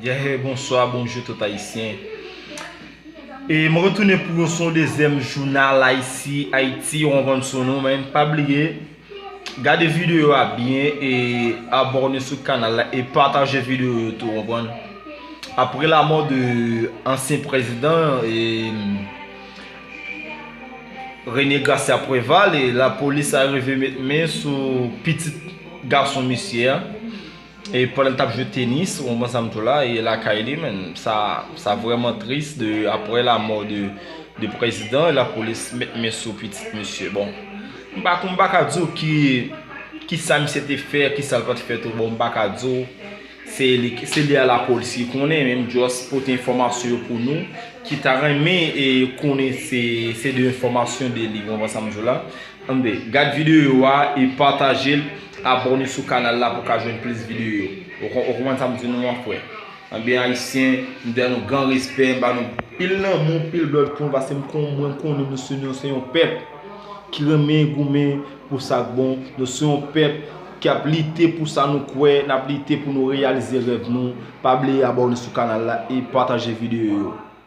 Yeah bonswa bonjou tout ayisyen e mwen retounen pou yon son dezyèm jounal ayisi ayiti yon van sou nou men pa bliye gade videyo a byen e abòne sou kanal la e pataje videyo yo tou anpwen apre la mò de ansyen prezidan e Rene Gracia Preval e la polis a rive met men sou pitit gason misye a. E pandan l tap jwe tenis ou konprann sa m tou la e lakay li menn sa sa vrèman tris de aprè lamò de de prezidan lapolis met men sou pitit misye bon m pa m pa ka di w ki kisa misye te fè kisa l pat fè tou bon m pa ka di w se li se li a lapolis ki konnen men m just pote enfòmasyon yo pou nou ki ta renmen e konnen se se de enfòmasyon de li ou konprann sa m di w la. Anmwde, gad videyo a e patajel, abòne sou kanal la pou ka jwenn plis videyo. Ou konprann sa m di nou an frè. Anmwde ayisyen, m ba nou gran respè, m ba nou pil lanmou, pil love pou nou paske m kon mwen konnen nou se nou se yon pèp ki renmen goumen pou sa k bon, nou se yon pèp ki ap lite pou sa nou kwè, n ap lite pou nou reyalize rèv nou. Pa bliye abòne sou kanal la e pataje videyo yo.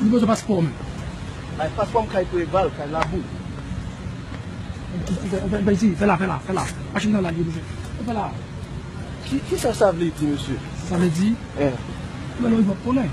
Li bezwen paspò menm. Bay paspò m kay preval kay labou. Fè isi fè la fè la fè la machin nan lage mesye fè la. Kisa sa vle di mesye. Sa vle di ou wè lè ou rive wap konnen.